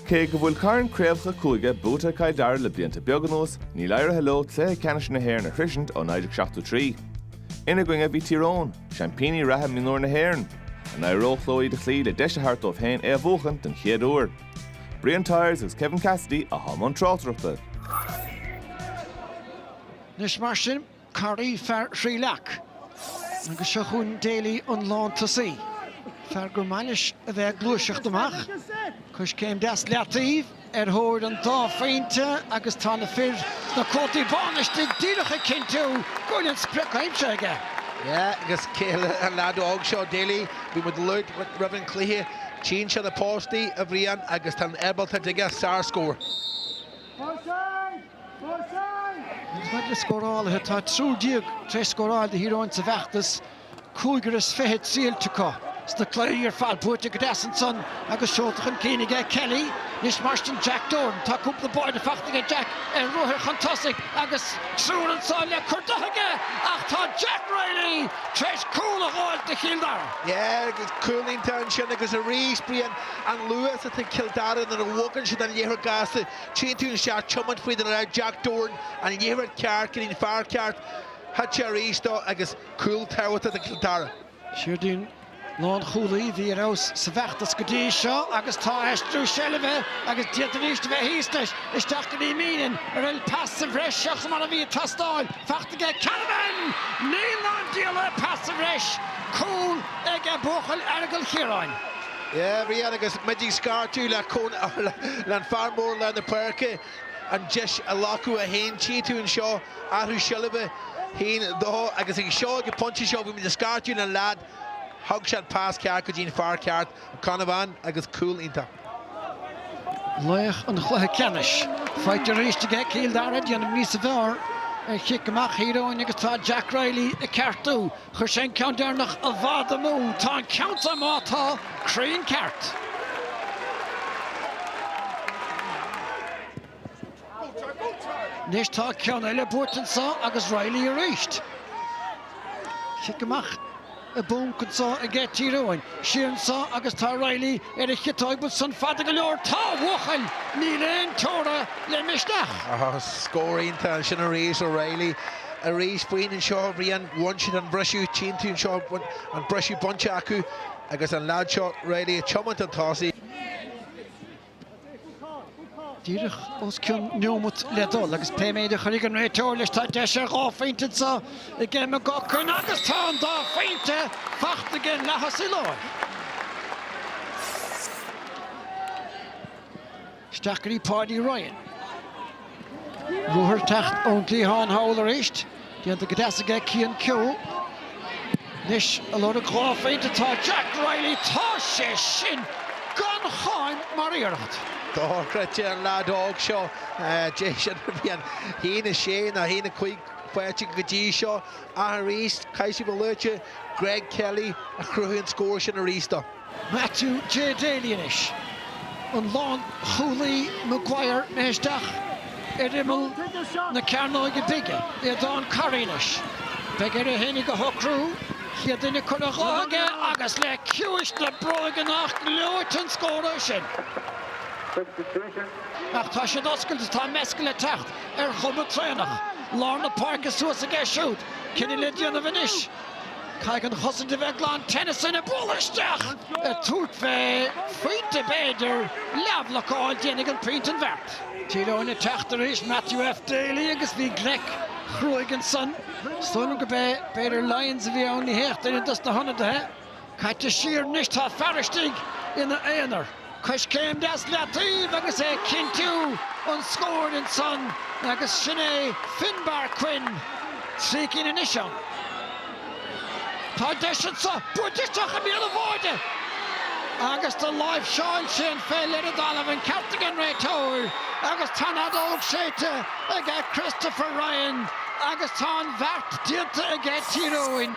Cé go bhfuil cairn craobhacha cúige buaite ag Cill Dara le blianta beaga anuas, níl éirithe leo cluiche ceannais na hÉireann a shroisint ó 1973. Ina gcoinne a bhí Tír Eoghain, seaimpíní reatha mionúr na hÉireann. An éireodh leo iad a chloí le deis a thabhairt dóibh féin é a bhuachan den chéad uair? Brian Tyers agus Kevin Cassidy atá i mbun tráchtaireachta. Anois mar sin, Carey, fear Thrí Leac. Agus seo chugainn Daly, an lántosaí, fear gur maith leis a bheith ag gluaiseacht amach. Coiscéim deas i leataobh ar thóir an dá phointe agus tá na fir sna cótaí bána istigh díreach ag cinntiú go bhfuil an sprioc aimsithe aige. Yeah, agus sé an leaid óg seo, Daly? Bhí muid ag labhairt faoi roimh an cluiche. Tchíonn sé na postaí, a Bhriain, agus tá an ábaltacht aige, sárscór. Níos mó scórálaithe, tá triúr déag tar éis scóráil do Thír Eoghain sa bhfeachtas, cúigear as fiche triailte acu. Sna cluichí ar fad, buaite go deas ansan agus seolta chun cinn aige Kelly. Anois mar sin Jack Doran. Tá cúpla bá faighte aige Jack ar ruathar chun tosaigh agus triúr ansa le cur de aige ach tá Jack Reilly tar éis cúl a fháil do Chill Dara. Cúl iontach ansin agus arís, Brian, an luas atá ag Cill Dara nuair a bhogann siad an liathróid gasta, Tchíonn tú an seacht ag tiomáint faoi, Jack Doran, an liathróid ceart go dtí an fear ceart, thart arís dó agus cúl tábhachtach do Chill Dara. Siúrdáin lánchúlaí a bhí ar fheabhas sa bhfeachtas go dtí seo agus tá aistriú seilbhe agus d'fhéadfaidís a bheith thíos leis. Isteach go dtí Meenan an bhfuil pas sa bhreis seachas mar a bhí ag teastáil. Faighte aige Canavan! Níl ná an diabhal é pas sa bhreis! Cúl aige buachaill Aireagail Chiaráin. Yeah, a Bhriain, agus muid ag scairteadh le Conn, leis an fear mór lár na páirce, an deis a ghlacadh é féin, tchí tú anseo, athrú seilbhe, haon, dó, agus ag seo, ag an phointe seo, bhí muid ag scairteadh le an leaid, thug sé an pas ceart go dtí an fear ceart, Canavan, agus cúl iontach. Laoch an chluiche ceannais, faighte arís aige Cill Dara, déanamh níos fearr, ar chic amach Thír Eoghain, agus tá Jack Reilly ag ceartú. Chuir sé an ceann deireanach i bhfad amú. Tá an ceann san, ámh, tá cruinn ceart. Anois tá ceann eile buaite anso agus Reilly arís. Chic amach i bponc anso aige Tír Eoghain. Siar anso agus tá Reilly ar a chiotóg bhfuil san fada go leor. Tá a bhuachaill! Níl aon teora le misneach. Scór iontach ansin arís ó Reilly. arís fén am seo Ryan bhain siad an briseadh timpeall anseo an briseadh bainte acu agus an leaid seo Riley ag tiomáint an tosaigh. díreach os cionn neomat le dul agus pé méid a chuirfidh an réiteoir leis tá deis ar dhá phointe anseo aige McGuckin agus tá an dá phointe faighte aige i leith a shúl abair. Stáití Paudie Ryan. Ruathar ag teacht ón gcliathán thall arís. Déanta go deas aige Cian Keogh. Anois ag lorg dhá phointe tá Jack Riley. Tá sé sin gan cháim mar iarracht. Dochreidte an leaid óg seo. Deis an bhliain. Shín a sé ná shín a cúig phointe go dtí seo. Ach arís, caithfidh mé a lua Greg Kelly a chruthaigh an scór sin arís dó. Matthew J Daly anois, an lánchúlaí Maguire isteach ar imeall na cearnóige bige, Aodhán Corry anois, beidh air é fhéinig a shocrú, chéad duine curtha dhó aige agus le ciumhais na bróige nach ngleoite an scór é sin! Ach tá siad oscailte, tá Mescal ag teacht ar chuma traenach, lár na páirce suas aige siúd, cinneadh le déanamh anois, Caithfidh an chosaint a bheith glan, Tennyson ag bualadh isteach ag tabhairt fé phointe b'fhéidir, leathbhlocáil, déanfaidh an pointe an bheart. Tír Eoghain ag teacht arís, Matthew F Daly agus bhí gleic chruaigh ansan, is dóigh liom go b'é, b'fhéidir Lyons a bhí ann, ní hea ach duine dos na hionadaithe. Caite siar anois tá fear istigh ina aonar, coiscéim deas leataoibh agus é ag cinntiú an scóir ansan agus sin é Finbarr Quinn trí cinn anois ann. Tá deis anso baint isteach i mbéal an bháire agus do láimhseáil sé an pheil ar an dtalamh an ceart ag an réiteoir agus tá an fheadóg séidte ag Christopher Ryan agus tá an bheart déanta aige Tír Eoghain.